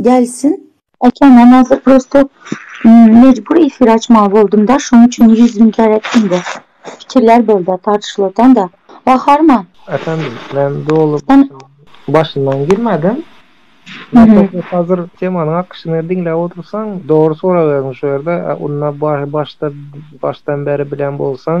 Gelsin. Eken men hazir prosto mejbur efir açmaly boldumda şoň üçin ýüz müň kere etdimde pikirler bolda tartyşylatanda Gaharman. Efendim men doly başyndan girmedim Nataşa hazir temanyň akyşyny diňläp otursaň dogry sorag berdiň şu ýerde onda başda başdan beri bilen bolsaň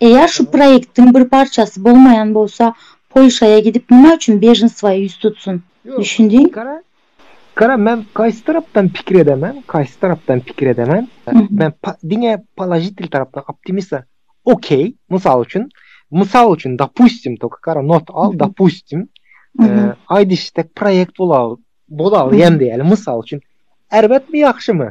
Eger şu proýektiň bir parçasy bolmaýan bolsa Polşaýa gidip nima üçin bejnswa ýüz tutsun? Düşündiň? Gara men kaýsy tarapdan pikir edemen, kaýsy tarapdan pikir edemen. Men diňe položitil tarapdan optimista. Okey, mysal üçin, mysal üçin dopustim tok gara not al dopustim. Aýdyşyk tek proýekt bolar, bolar diýen diýeli mysal üçin. Erbetmi ýagşymy?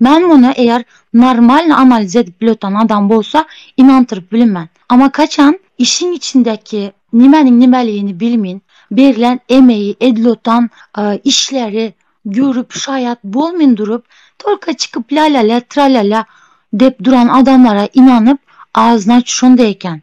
Men muny eger normalny analiz edip biletan adam bolsa ynantyryp bilmen. Amma kaçan işiň içindeki nimeniň nimeligini bilmin, berlen emegi, edilotan işleri görüp şaýat bolmin durup, tolko çykyp la-la-la, tra-la-la dep duran adamlara ynanyp, agyzyny açyp şonda eken.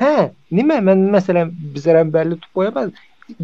Hä, nime men meselem bizerem belli tutup goýamaz.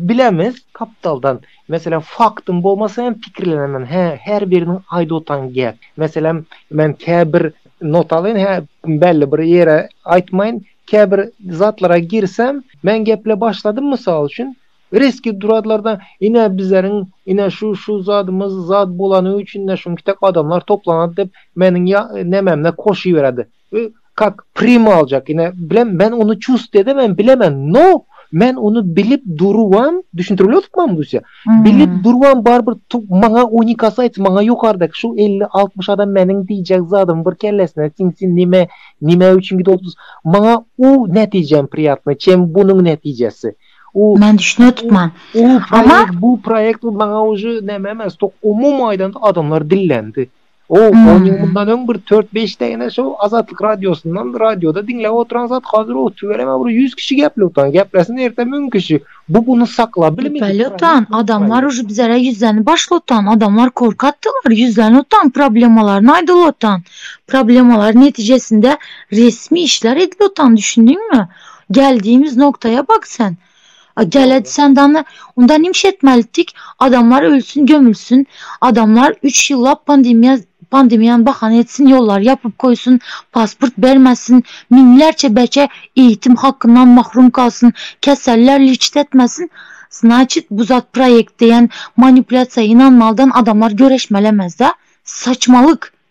Bilemiz kaptaldan. Meselem faktyň bolmasa hem pikirlenemem. Hä, her biriniň aýdyp otan gep. Meselem men käbir notaly hä belli bir ýere aýtmaýyn. Käbir zatlara girsem, men geple başladym mysal üçin, reski duradlarda ine bizeriň ine şu şu zadymyz zad bolany üçin de şunkitek adamlar toplanat dep meniň ýa nememde koşyberedi. Ü kak primo aljak ine bilen men ony çust edemen bilemen no men ony bilip durubam düşündirip otupmam guýsa bilip durubam barybir tu maňa unikasayt maňa ýokardaky şu elli altmyş adam meniň diýjek zadym bir kellesine siňsin nime nime üçin gidip otupdys maňa u netijem priýatny çem bunuň netijesi u men düşünip otupman u proýekt bu proýekt maňa uje neme emes tok umumy aýdanda adamlar dillendi O, on ýyl mundan öň bir tört-beş däne şo Azatlyk radiosyndan radioda diňläp oturan zat, hazir o tüweleme bir ýüz kişi gepläp oturan. Geplesin erte müň kişi. Bu buny saklap bilmedi. Gepläp oturan adamlar uje bizara ýüzlenip başlap oturan adamlar korkakdylar, ýüzlenip oturan problemalaryny aýdyp oturan. Problemalary netijesinde resmi işler edip oturan düşündiňmi? Geldiýimiz noktaýa bak sen. A Geledi sen dana unda nim iş etmeli tik adamlar ölsün gömülsün adamlar üç ýyllap pandemiýa pandemiýany bahana etsin ýollary ýapyp goýsun pasport bermesin miňlerçe beçe eýitim hakyndan mahrum kalsyn keseller lýçit etmesin znaçit bu zat proýekt diýen manipulýasiýa ynanmalydan adamlar göreşmeli emesda saçmalyk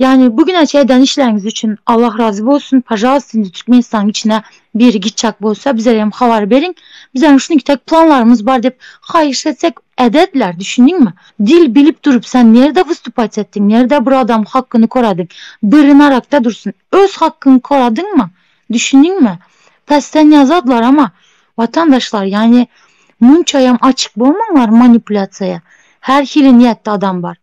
Ýani bu güne çe eden işleriňiz üçin Allah razy bolsun pažalst indi Türkmenistanyň içine biri gitjek bolsa bizerem habar beriň bizerem şunuki tek planlarymyz bar dep haýyş etsek ädediler düşündiňmi dil bilip durup sen nerde wystupat etdiň nerde bir adam hakkyny koradyň biri narakda dursun öz hakkyňy koradyňmy düşündiňmi pesden ýazadylar ama watandaşlar ýani munçaýam açyk bolmaňlar manipulýasiýa her hili niýetde adam bar.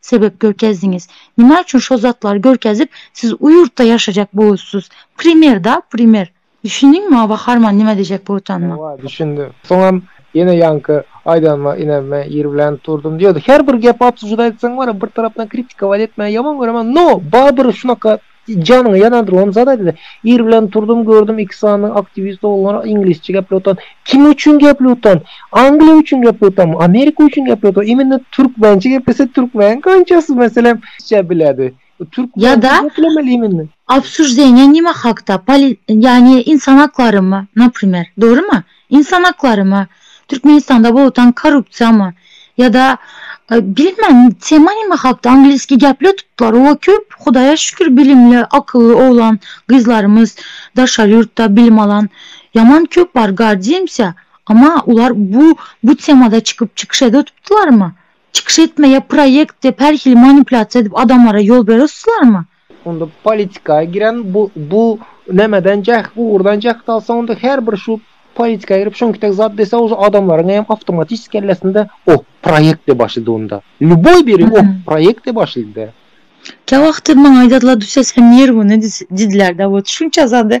Sebep görkezdiňiz. Nima üçin şo zatlary görkezip siz u ýurtda ýaşajak boussuz. Primer da primer. Düşündiňmi Aba Harman nima dejek bu utanyma. Hawa düşündim. Soňam ýene ýaňky aýdanyma inanma ýer bilen durdum diýýärdi. Her bir gepi obsuždaýtsaň bar ya bir tarapdan kritikowaýt etmäni ýaman göremen no Babyr şunaka Janyňy ýanan room zat aýdyp ir bilen turdum gördüm iki sany aktiwist oglan iňlisçe gepläp oturan kim üçin gepläp oturan angliýa üçin gepläp oturanmy amerika üçin gepläp oturan imенно türkmençe geplese türkmeniň kançasy meselem rusça biledi türkmençe geplemeli imенно. Obsuždeniýa nime hakda? Poli ýagny insan haklarymy naprimer dogrymy? Ynsan haklarymy, Türkmenistanda bolutan korrupsiýamy ýa-da bilmän tema nime hakda angliski gäpleýär tutlar oba köp hudaýa şükür bilimli akylly oglan gyzlarymyz daşary ýurtda bilim alan ýaman köp bar gardýmsýa ama ular bu bu temada çykyp çykyş ede tutlarmy çykyş etmeýe proýekt dep her hili manipulýasiýa edip adamlara ýol bere tutlarmy. Onda politika giren bu bu nämeden jäh ugurdan jäh salsa onda her bir şu politika girip şonki tek zat dese o adamlaryň hem awtomatik kellesinde o proýekt de başlady onda. Lýuboý biri o proýekt de başlady. Käwagtdy maňa aýdarlar düşse sen ýer güni diýdiler de bu düşünçe zady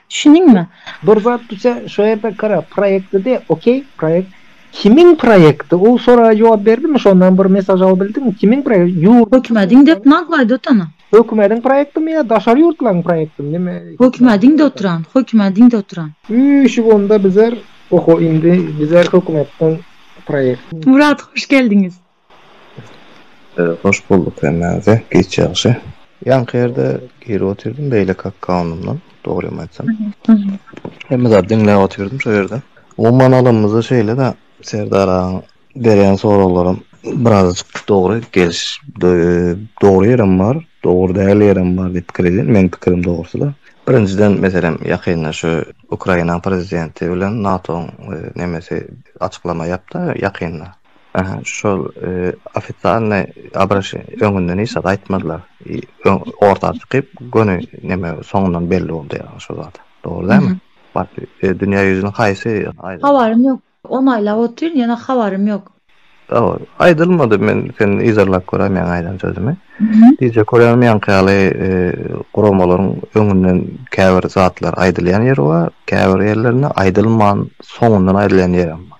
Düşündiňmi? Bir zat düşe şo ýerde gara proýekti diýe okey proýekt kimiň proýekti ol soraga jogap berdimi şondan bir mesaj alybildiňmi kimiň proýekti ýurduň Hökümediň dep naglaý dotana. Hökümediň proýektimi ýa daşary ýurtlaň proýektimi neme. Hökümediň doturan hökümediň doturan. Üýşüp onda bizer oho indi bizer hökümetden proýekt. Murat hoş geldiňiz. Hoş bolduk hemmäňize giç ýagşy. Ýaňky ýerde girip otyrdym beýleki akkawundymdan dogrymy aýtsam. Hemme zady diňläp otyrdym şo ýerde. Umuman alanymyzda şeýle-de Serdar agaň berýän soraglaram birazajyk dogry geliş dogry ýerem bar, dogry däl ýerem bar diýip pikir edýän. Meň pikirim dogrusyda. Birinjiden meselem ýakynda şu Ukrainaň prezidenti bilen NATO-nyň nemesi açyklama ýapdy ýakynda. Aha, şol ofitsialny abraşy öňünden hiç zat aýtmadylar. Orta çykyp, göni näme soňundan belli boldy ýa şol zat. Dogry dälmi? Bar, dünýä ýüzüniň haýsy aýdylmady. Habarym ýok. On aýlap otyryn, ýöne habarym ýok. Dogry. Aýdylmady, men seni yzarlap göräý meň aýdan sözümi. Dije Koreanyň ýaňky ýaly guramalaryň öňünden käbir zatlar aýdylýan ýeri bar, käbir ýerlerinde aýdylman soňundan aýdylýan ýerem bar.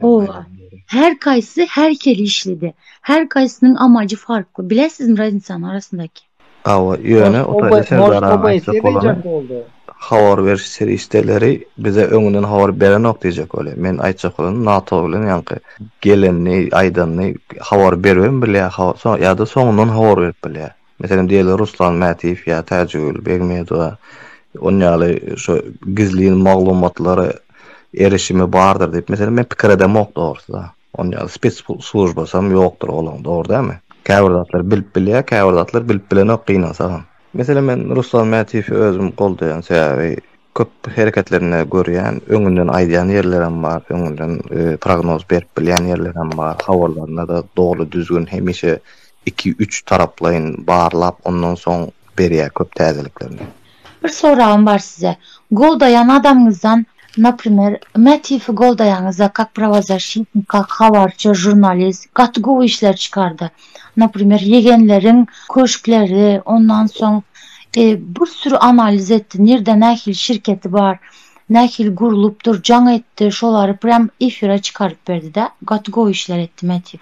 Oba, her kaýsy her hili işlidi. Her kaýsynyň amajy farkly. Bilesizmi raznisany arasyndaky? Hawa, ýöne o taýda Serdaranyň aýtjak bolany, habar beriş serişdeleri bize öňünden habar berenok diýjek bolýar. Men aýtjak bolany NATO bilen ýaňky gelenini, aýdanyny habar beribem bilýär, hawa, soň ýa-da soňundan habar berip bilýär. Meselem, diýeli Ruslan Mätiýew ýa Täjigül Begmedowa on ýaly şu gizlin maglumatlary erişimi bardyr diýip, meselem, men pikir edemok dogrusy-da. On ýaly spes slujbasam ýokdur olaň, dogry dälmi? Käbir zatlar bilip bilýär, käbir zatlar bilip bilenok gynansagam. Meselem, men Ruslan Mätiýewi özüm goldaýan sebäbi, Köp hereketlerinde görýän, öňünden aýdýan ýerlerem bar, öňünden prognoz berip bilýän ýerlerem bar. Habarlarynda-da doly düzgün hemişe iki-üç taraplaýyn barlap, ondan soň berýär köp täzeliklerini. Bir soragym bar size. Goldaýan adamyňyzdan, naprimer, Mätiýewi goldaýaňyzda, kak prowozashitnik, kak habarçy, žurnalist, gaty gowy işler çykardy. Naprimer, ýegenleriň köşkleri, ondan soň bir süri analiz etdi, nirde nähili şirketi bar, nähili gurlupdyr, jaň etdi, şolary prýam efire çykaryp berdi-de, gaty gowy işler etdi Mätiw.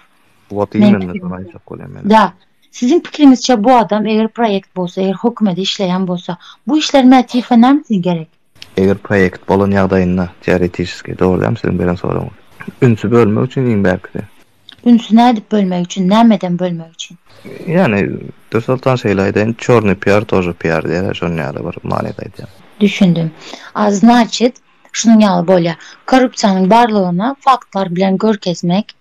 Wot imенно şony aýtjak bolýan men. Da. Siziň pikiriňizçe bu adam eger proýekt bolsa, eger hökümede işleýän bolsa, bu işler Mätiwe näme üçin gerek? Eger proýekt bolan ýagdaýynda, teoretiçeskiý, dogrudanam siziň beren soragyňyz. Ünsi bölmek üçin iň bärkisi. Ünsi nädip bölmek üçin, nämeden bölmek üçin? Ýagny, Dürsoltan şeýle aýdaýyn, çornyý piar tože piar diýerler, şonuň ýaly bir manyda aýdýan. Düşündim. A znaçit, şunuň ýaly bolýar. Korrupsiýanyň barlygyny faktlar bilen görkezmek.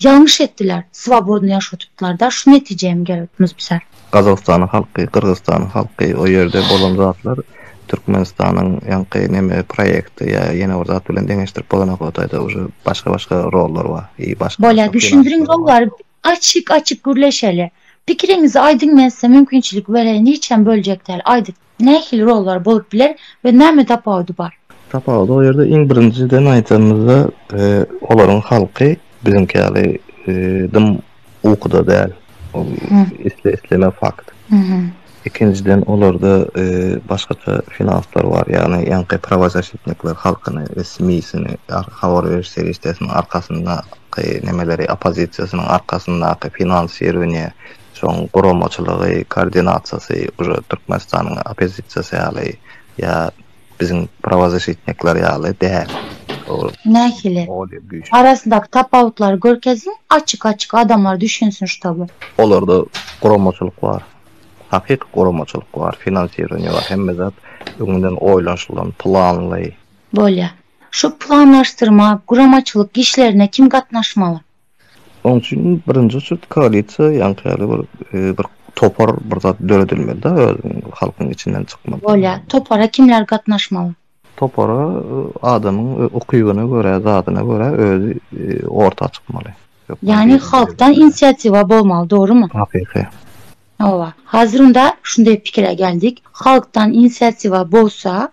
Ýalňyş etdiler, swobodny ýaşuw tutdlarda şu netijä hem gelipmiz bizler. Gazagystanyň halky, Gyrgyzystanyň halky o ýerde bolan zatlar Türkmenistanyň ýaňky neme proýekti ýa ýene bir zat bilen deňeşdirip bolanok o taýda uje başga başga rollar bar i başga Bolýa düşündiriň rollary açyk açyk gürleşeli pikiriňizi aýdyň men size mümkinçilik bereýin hiçem böljek däl aýdyň. nähili rollar bolup biler we näme tapawudy bar? Tapawudy o ýerde iň birinjiden aýdanymyzda olaryň halky biziňki ýaly dym ukuda däl. Ol isle isleme fakt. Ikinjiden olarda başgaça finanslar bar ýagny ýaňky prawozasitnikler halkyny we smi sini habar beriş serişdesiniň arkasynda nemeleri oppozisiýasynyň arkasyndaky finansirowaniýe Şoň guramaçylygy, koordinasiýasy uje Türkmenistanyň oppozisiýasy ýaly ýa biziň prawozasitnikler ýaly däl. Nähili? Arasyndaky tapawutlary görkeziň, açyk açyk adamlar düşünsin ştoby. Olarda guramaçylyk bar. Hakyky guramaçylyk bar, finansirowaniýe bar, hemme zat öňünden oýlanyşylan, planly. Bolýar. Şu planlaşdyrma, guramaçylyk işlerine kim gatnaşmaly? Onuň üçin birinji çyrt koalisiýa ýaňky ýaly bir bir topar bir zat döredilmelida özüniň halkyň içinden çykmaly. Bolýa. Topara kimler gatnaşmaly? Topara adamyň ukybyna görä zadyna görä özi orta çykmaly. Ýagny halkdan inisiatiwa bolmaly dogrymy? Hakyky. Hawa. Hazir onda şunday pikire geldik. Halkdan inisiatiwa bolsa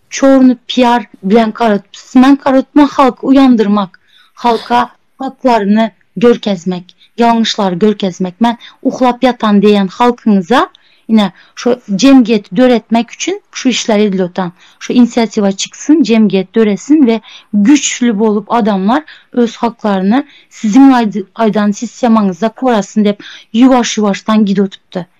Çorny PR bilen garytman garytman halky uýandyrmak halka haklaryny görkezmek ýalňyşlary görkezmek men uhlap ýatan diýen halkyňyza ine şu jemgyýeti döretmek üçin şu işler edilotan şu inisiatiwa çyksyn jemgyýet döresin we güçli bolup adamlar öz haklaryny siziň aýdan sistemaňyzda korasyn dep ýuwaş ýuwaşdan gidotypdy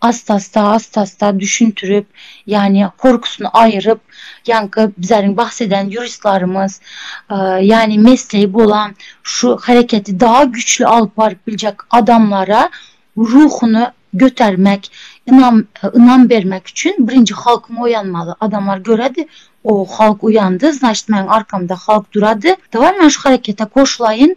Assa-assa, assa-assa düşündirip, ýagny korkusyny aýyryp, ýaňky bizleriň bahs eden ýuristlarymyz, ýagny mesleýi bolan şu hereketi daha güýçli alyp baryp biljek adamlara ruhuny götermek, ynam ynam bermek üçin birinji halkyň oýanmaly. Adamlar göredi, o halk uýandy, znaçt meň arkamda halk durady, daway men şu herekete goşulaýyn.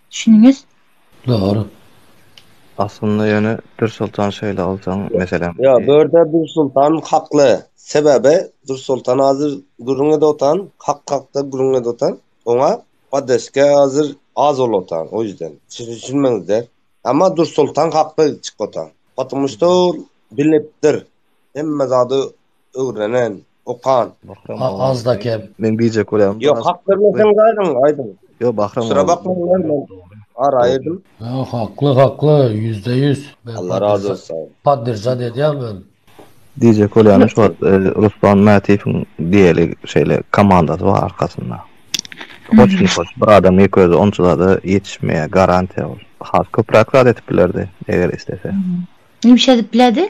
Düşündiniz? Dogry. Aslynda ýöne Dürsoltan şeýle alsaň meselem. Ýok, bu ýerde Dürsoltan hakly. Sebäbi Dürsoltan hazir gürrüň edotan, hak hakda gürrüň edotan. Oňa poddeska hazir az bolotan, o ýüzden. Siz düşünmeňizde. Emma Dürsoltan hakly çykotan. Potomušto ol bilipdir. Hemme zady Öwrenen, okan. Azda kem. Men biýjek bolýan. Ýok, hak bermeseň gaýdyň, aýdyň. Ýok, Bahram. Şura bakmaň lan men. Ara aýdym. Ýok, hakly, hakly, ýüzde ýüz. Allah razy bolsun. Podderžat edýän men. Diýjek bolýan şu wagt Ruslan Mätiýewiň diýeli şeýle komandasy bar arkasynda. Hoşny hoş, bir adam ýeke özi onça zada ýetişmeýär, garantiýa ol. Has köpräk zat edip bilerdi, eger islese. Nimişe edip biledi?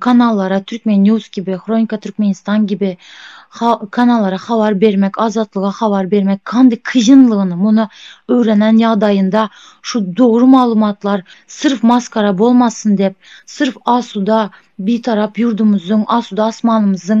kanallara Türkmen news kibi, Hronika Türkmenistan kibi kanallara habar bermek, Azatlyga habar bermek kandi kyýynlygyny muny öwrenen ýagdaýynda şu dogry maglumatlar syrf maskara bolmasyn dep, syrf asuda Bitarap ýurdumyzyň, asuda asmanymyzyň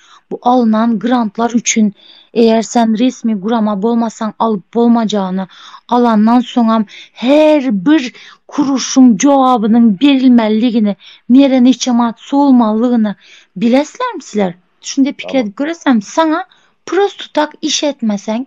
Bu alnan grantlar üçin eger sen resmi gurama bolmasaň alyp bolmajagyny, alandan soňam her bir kuruşyň jogabynyň berilmeliligini, nere niçe manat sowulmalygyny bileslermi sizler? Şunday pikir edip göresermi? Saňa prosto tak iş etmeseň,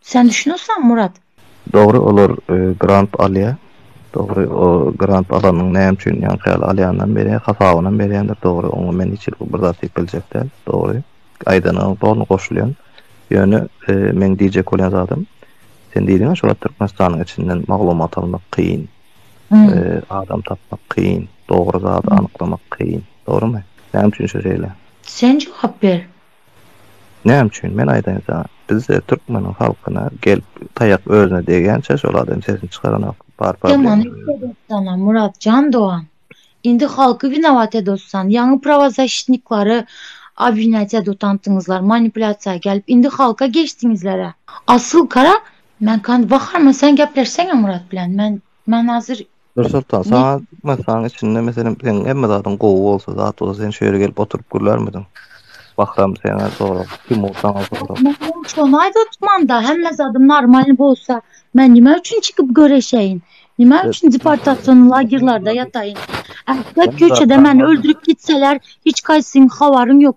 Sen düşünirseň Murat. Dogry olar grant alýa. Dogry o grant alanyň näme üçin ýaňky ýaly alýanynam berýä hasabynam berýändir dogry oňa men hiç bir zat diýip biljek däl dogry aýdanyňa doly goşulýan ýöne meň diýjek bolýan zadym sen diýdiňä şu wagt Türkmenistanyň içinden maglumat almak kyn adam tapmak kyn dogry zady anyklamak kyn dogrymy näme üçin şu şeýle sen jogap ber. Näme üçin? Men aýdaýyn saňa. Bizde türkmeniň halkyna gelip taýak özüne degýänçä şol adam sesini çykaranok. Bar problema şu ýerde. Muratjan dogan. Indi halky winowat edotsan. Ýaňy prawozashitniklary obwinýat edotantyňyzlar, manipulýasiýa gelip. Indi halka geçdiňizlerä. Asyl gara, men kan baharma sen gepleşseňä Murat bilen. Men men hazir Nursultan Ne? saňa masaň içinde meselem seň hemme zadyň gowy bolsa zat bolsa sen şu ýere gelip oturyp gülermidiň? Bahram saňa sorag, Timur saňa sorag. Mährim şony aýt otmanda hemme zadym normalny bolsa men nime üçin çykyp göreşeýin? Nime Sen- üçin deportasiýon lagerlerde ýataýyn? Ähli Sen köçede zatlama. meni öldürip gitseler hiç haýsyň habaryň ýok.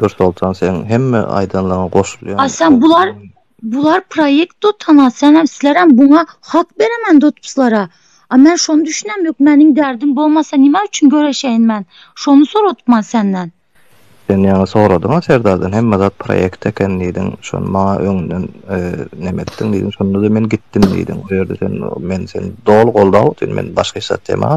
Dur Soltan seň hemme aýdanlaňa goşulýan. Aýsam bular bular proýekt dotana senem sizlerem buňa hak beremen dotpslara. A men şony düşünem ýok meniň därdim bolmasa nime üçin göreşeýin men şony soradypman senden. Sen ýaňy soradyňa Serdardan hemme zat proýekt eken diýdiň şony maňa öňden neme etdiň diýdiň şonda-da men gitdim diýdiň o ýerde sen men seni doly goldaw sen men başga hiç zat demän.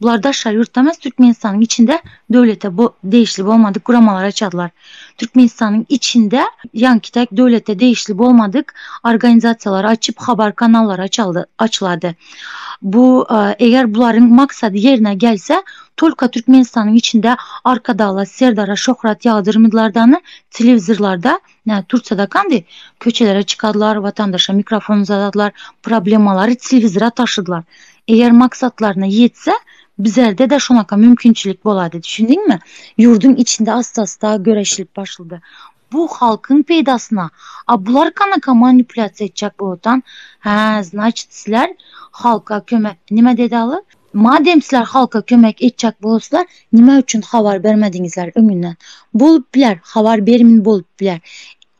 Bular daşary ýurtda emas, Türkmenistanyň içinde döwlete degişli bolmadyk guramalar açarlar. Türkmenistanyň içinde ýaňky täk döwlete degişli bolmadyk organizasiýalary açyp, habar kanallary açaldy, açylady. Bu eger bularyň maksady ýerine gelse, tolka Türkmenistanyň içinde Arkadagla, Serdara şöhrat ýagdyrmyzlardany telewizorlarda Nädip tutsadak indi? Köçelere çykadylar, watandaşa mikrofon uzadadylar, problemalary telewizora taşydylar. Eger maksatlaryna ýetse, bizerde-de şonaka mümkinçilik bolady, düşündiňmi? Ýurduň içinde ast-ast-a göreşilip başlady. Bu halkyň peýdasyna. A bular kanaka manipulýasiýa etjek bolýan. Hä, znaçit, sizler halka kömek nime deda-ly? Madem sizler halka kömek etjek bolsalar nime üçin habar bermediňizler öňünden. Bolup biler habar berimin bolup biler.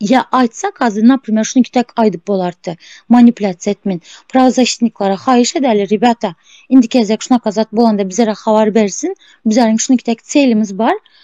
Ýa aýtsak hazir naprimer şuny tek aýdyp bolardy. Manipulýasiýa etmin. Prawozaşitniklere haýyş edeli rebýata. Indiki gezek şunaka zat bolanda bizlere habar bersin. Bizleriň şuny tek çelimiz bar.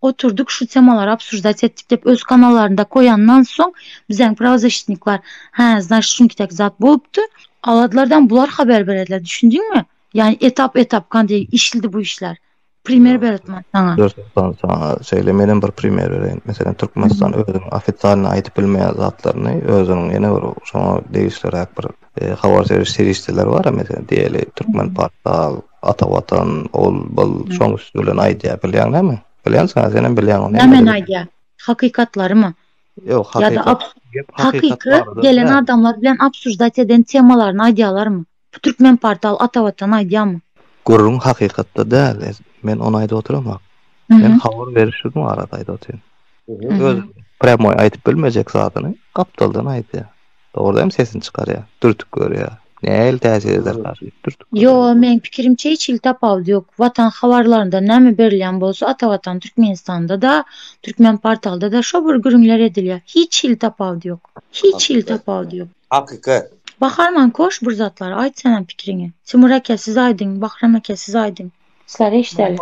oturdyk şu temalary obsujdat etdik dep öz kanallarynda koýandan soň bizeň prawzasitniklar hä znaçt şunki tek zat bolupdy aladlardan bular haber berediler düşündiňmi ýani etap etap kande işlidi bu işler primer beretman saňa görsetan saňa şeýle menem bir primer bereýin meselem türkmenistan özüň ofisialny aýdyp bilmeýän zatlaryny özüniň ýene bir şoňa degişliräk bir e, habar seriş serişdeler bar meselem diýeli türkmen portal Ata watan ol bul şoň üsti bilen aýdýa bilýäň näme bilýänsiňa senem bilýäň ony nämäni aýdýa hakykatlarymy ýok hakykat hakykat gelen adamlar bilen obsuždat eden temalaryny aýdýalarmy bu türkmen portal ata watan aýdýamy gürrüň hakykatda däl men ony aýdyp oturamok men habar berişlik barada aýdyp otyryn öz prýamoý aýdyp bilmejek zadyny gapdaldan aýdýa. Dogry hem sesini çykarýar. Dürtüp görýär. Nähili täsir ederkar diýip dürtüp görýär. Ýo, meň pikirimçe hiç hili tapawudy ýok. Watan habarlarynda näme berilýän bolsa Ata Watan Türkmenistanda-da, Türkmen portalda-da şo bir gürrüňler edilýär. Hiç hili tapawudy ýok. Hiç hili tapawudy ýok. Hakykat. Baharman koş bir zatlar aýt senem pikiriňi. Timur aka siz aýdyň, Bahram aka siz aýdyň. Slar eşdeli.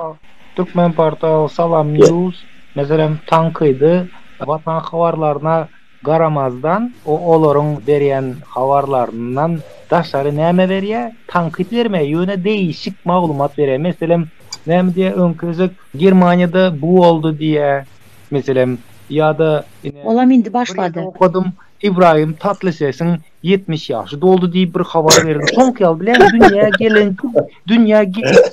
Turkmenportal Salam News meselem tankydy watan habarlaryna garamazdan o olaryň berýän habarlaryndan daşary näme berýä tankyt bermeýä ýöne deýişik maglumat berýä meselem näme diýä öňki gezek Germaniýada bu boldy diýä meselem ýada ine Olam indi başlady. Okadym Ibrahim Tatlysesiň 70 ýaşy doldy diýip bir habar berdi. Soňky ýaly bilen dünýä gelen dünýä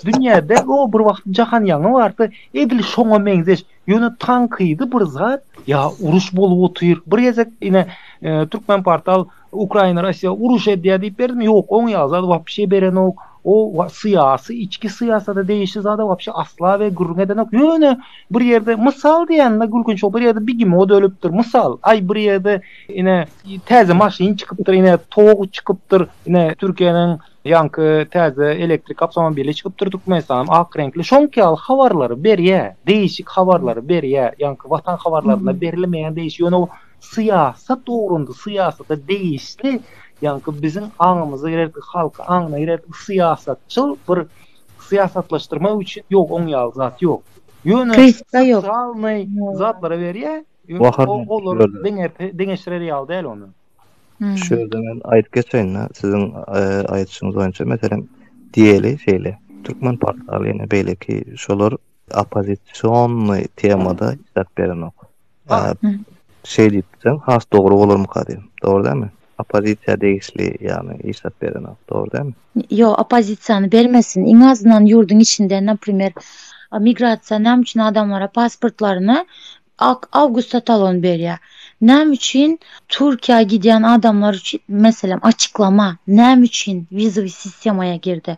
dünýäde o bir wagt jahan ýaňy bardy. Edil şoňa meňzeş. Ýöne tankydy bir zat. Ýa uruş bolup otyr. Bir gezek ine e, Türkmen portal Ukraina Russiýa uruş edýär diýip berdim. Ýok, oň ýaly zat wapşe berenok. O syýasy, içki syýasata degişli zada wapşe asla we gürrüň edenok. Ýöne bir ýerde mysal diýende gülkünç, bir ýerde bigimod ölüpdir. Mysal, aý bir ýerde Ine täze maşyn çykypdyr, ine tog çykypdyr, ine Türkiýäniň ýaňky täze elektrik awtomobili çykypdyr Türkmenistanyň ak reňkli. Şoňky ýaly habarlary berýä, deýişik habarlary berýä. Ýaňky watan habarlarynda berilmeýän deýişik. Ýöne o syýasat ugrunda, syýasata deýişli ýaňky biziň aňymyza girerki halky aňyna girerki syýasatçyl bir syýasatlaşdyrmak üçin ýok oň ýaly zat ýok. Ýöne sosialnyý zatlara berýä. Ýöne o olar deňerti deňeşdirer ýaly däl ony. Şu ýerde men aýdyp geçeýin-de, siziň aýdyşyňyz boýunça, meselem, diýeli şeýle, türkmen portaly ýene beýleki şolar oppozisionny temada çap berenok. Şeý diýipdim, has dogry bolarmyka diýdim. Dogry dälmi? Oppozisiýa degişli ýagny işlap berenok dogry dälmi? Ýok oppozisiýany bermesin iň azyndan ýurduň içinde naprimer migrasiýa näme üçin adamlara pasportlaryny awgusta talon berýär näme üçin Türkiýä gidýän adamlar üçin meselem açyklama näme üçin wizowy sistemaýa girdi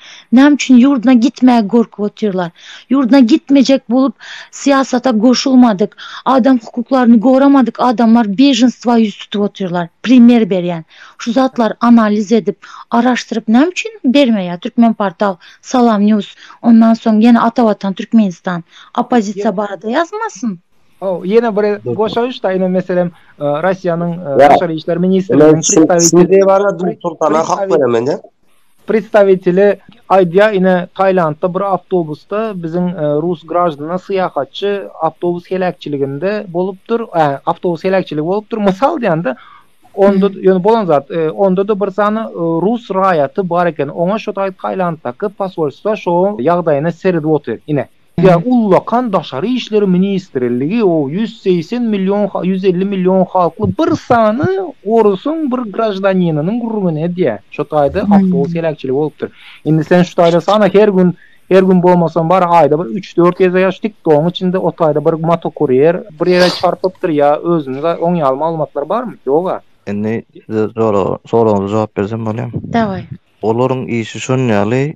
Näme üçin ýurduna gitmäge gorkup otyrlar? Ýurduna gitmejek bolup syýasata goşulmadyk, adam hukuklaryny goramadyk adamlar beženstwa ýüz tutup otyrlar. Primer berýän. Şu zatlary analiz edip, araşdyryp näme üçin bermeýär Türkmenportal, Salam news, ondan soň ýene Atavatan Türkmenistan oppozisiýa barada ýazmasyn? Hawa, ýene bir goşaýyş-da, ine meselem, Russiýanyň Daşary işler ministrliginiň predstawiteli. Sizde barada Nursultana hak beremende. Predstawiteli aýdýar, ine, Tailandda bir awtobusda biziň rus graždana syýahatçy awtobus heläkçiliginde bolupdyr, ä, awtobus heläkçiligi bolupdyr, mysal diýen-de, onda, ýöne bolan zat, onda-da bir sany rus raýaty bar eken, oňa şo Tailanddaky posolstwa şo ýagdaýyny seredip otyr, ine. Ýa ullakan daşary işler ministrligi o ýüz segsen million ha ýüz elli million halkly bir sany orusyň bir graždaninynyň gürrüňini edýä. Şo taýda awtobus heläkçiligi bolupdyr. Indi sen şu taýda sana her gün her gün bolmasam bar aýda bir üç dört geze ýa şu tiktogyň içinde o taýda bir motokurýer bir ýere çarpypdyr ýa özünize oň ýaly maglumatlar barmy? Ýog-a. Indi size soragyňyza jogap bersem bolýamy? Daway. Olaryň işi şon ýaly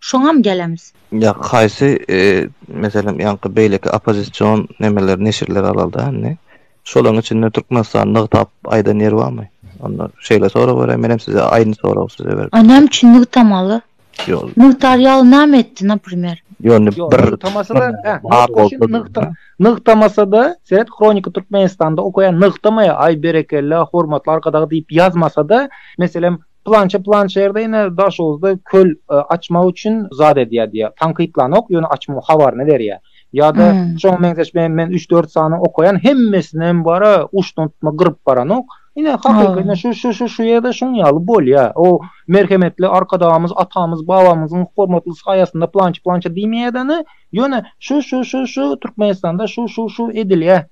Şoňam gelemis. Ýa haýsy meselem ýaňky beýleki oppozision nemeler neşirler alalda indi. Şolaň içinde Türkmenistan nygtap aýdan ýeri barmy? Onda şeýle sorag berä menem size aýny sorag size berip. A näme üçin nygtamaly? Ýok. Nygtar ýaly näme etdi naprimer? Ýok indi bir nygtamasada bar bolsa nygtamasada seret kronika Türkmenistanda okaýan nygtamaýa aý berekella hormatly arkadag diýip ýazmasada meselem Pylança pylança ýerde ine Daşoguzda köl açmak üçin zat edýär diýýär. Tankytlanok, ýöne açmagyň habaryny berýär. Ýa-da şoňa meňzeş men üç-dört sany okaýan, hemmesinem bar-a, uçdan tutma gyryp baranok. Ine hakyky şu şu şu şu ýerde şuň ýaly bolýar. O merhemetli Arkadagymyz, atamyz, babamyzyň hormatly saýasynda pylança pylança diýmeýär-de, ine, ýöne şu şu şu şu Türkmenistanda şu şu şu edilýär.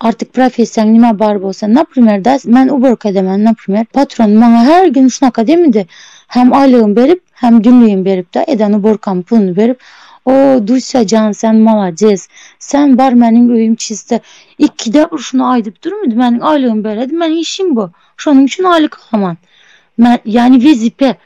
Artyk professiýaň nima bar bolsa, naprimer da, men uborka edemen, naprimer, patronym maňa her gün şunaka demidi, hem aýlygym berip, hem günligim beripda, eden uborkam puluny berip, O, Dusýa jan, sen malades, sen bar, meniň öýüm çiste, ikide bir şuny aýdyp durmydy, meniň aýlygymy beredi, men işim bu, şonuň üçin aýlyk alaman, men, ýagny wezipe,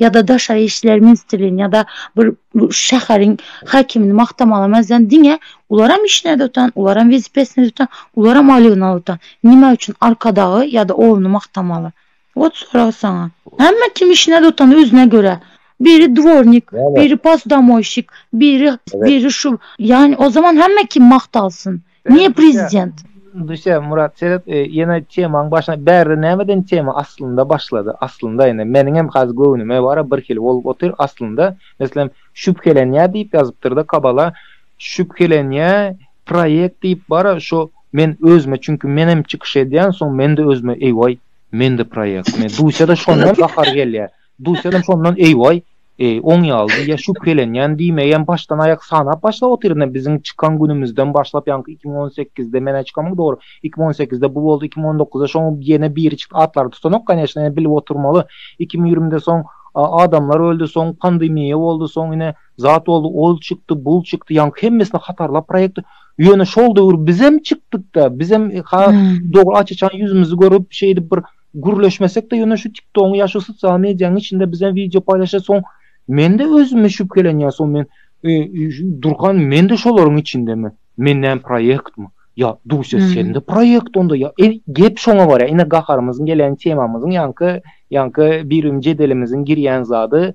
ýa-da daşary işler ministrligini ýa-da bir şäheriň häkimini magtamaga merzän diňe ularam işine tutan ularam wezipesine tutan ularam aýlygyna tutan nime üçin arkadagy ýa-da oguny magtamaly wot sorag saňa hemme kim işine tutan özüne görä biri dwornik biri posdomoýşik biri biri şu ýani o zaman hemme kim magtalsyn Niye prezident? Düşe Murat Seret e, yine temaň başyna bärde nämeden tema aslynda başlady. Aslynda indi meniň hem haz göwnüme bara bir hil bolup otyr. Aslynda meselem şübhelenýär diýip ýazypdyrda kabala şübhelenýär proýekt diýip bara şo men özüme çünki men hem çykyş edýän soň men-de özüme eýwaý men-de proýekt. Men duşa-da şondan gahar gelýär. Duýsalam şondan eýwaý, oň ýalydy ýa şübhelenýän diýmegem başdan aýak sanap başlap otyryn-a biziň çykan günümizden başlap ýaňky iki müň on sekizde men-ä çykamyň dogry iki müň on sekizde bu boldy iki müň on dokuzda şoň ýene biri çykdy atlary tutanok koneçno ýene bilip oturmaly iki müň ýigrimide soň adamlar öldi soň pandemiýa boldy soň ine zat boldy ol çykdy bul çykdy ýaňky hemmesini hatarlap proýekt ýöne şol döwür bizem çykdyk-da bizem ha dogry aç-açan ýüzümizi görüp şeýdip bir Gürleşmesek-de ýöne şu TikTogyň ýa şu sosial mediýanyň içinde biz hem wideo paýlaşýas soň men-de özüme şübhelenýän soň men durkan men-de şolaryň içindemi? Men näme proýektmi? Ýa Duýsa sen-de proýekt onda ýa gep şoňa barýar. Ine gaharymyzyň gelýän temamyzyň ýaňky ýaňky birimiň jedelimiziň girýän zady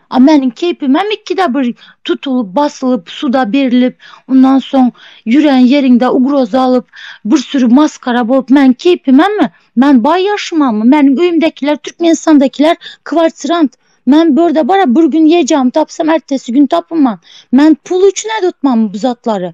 A meniň keýpimem ikide bir tutulyp, basylyp, suda berilip, ondan soň ýürän ýeriňde ugroza alyp, bir süri masgara bolup, meniň keýpimemi? Men baý ýaşamamy? Meniň öýümdekiler, Türkmenistandakiler kwartirant. Men bu ýerde bara bir gün ýejagmy tapsam, ertesi gün tapynman. Men pul üçin ädotmamy bu zatlary?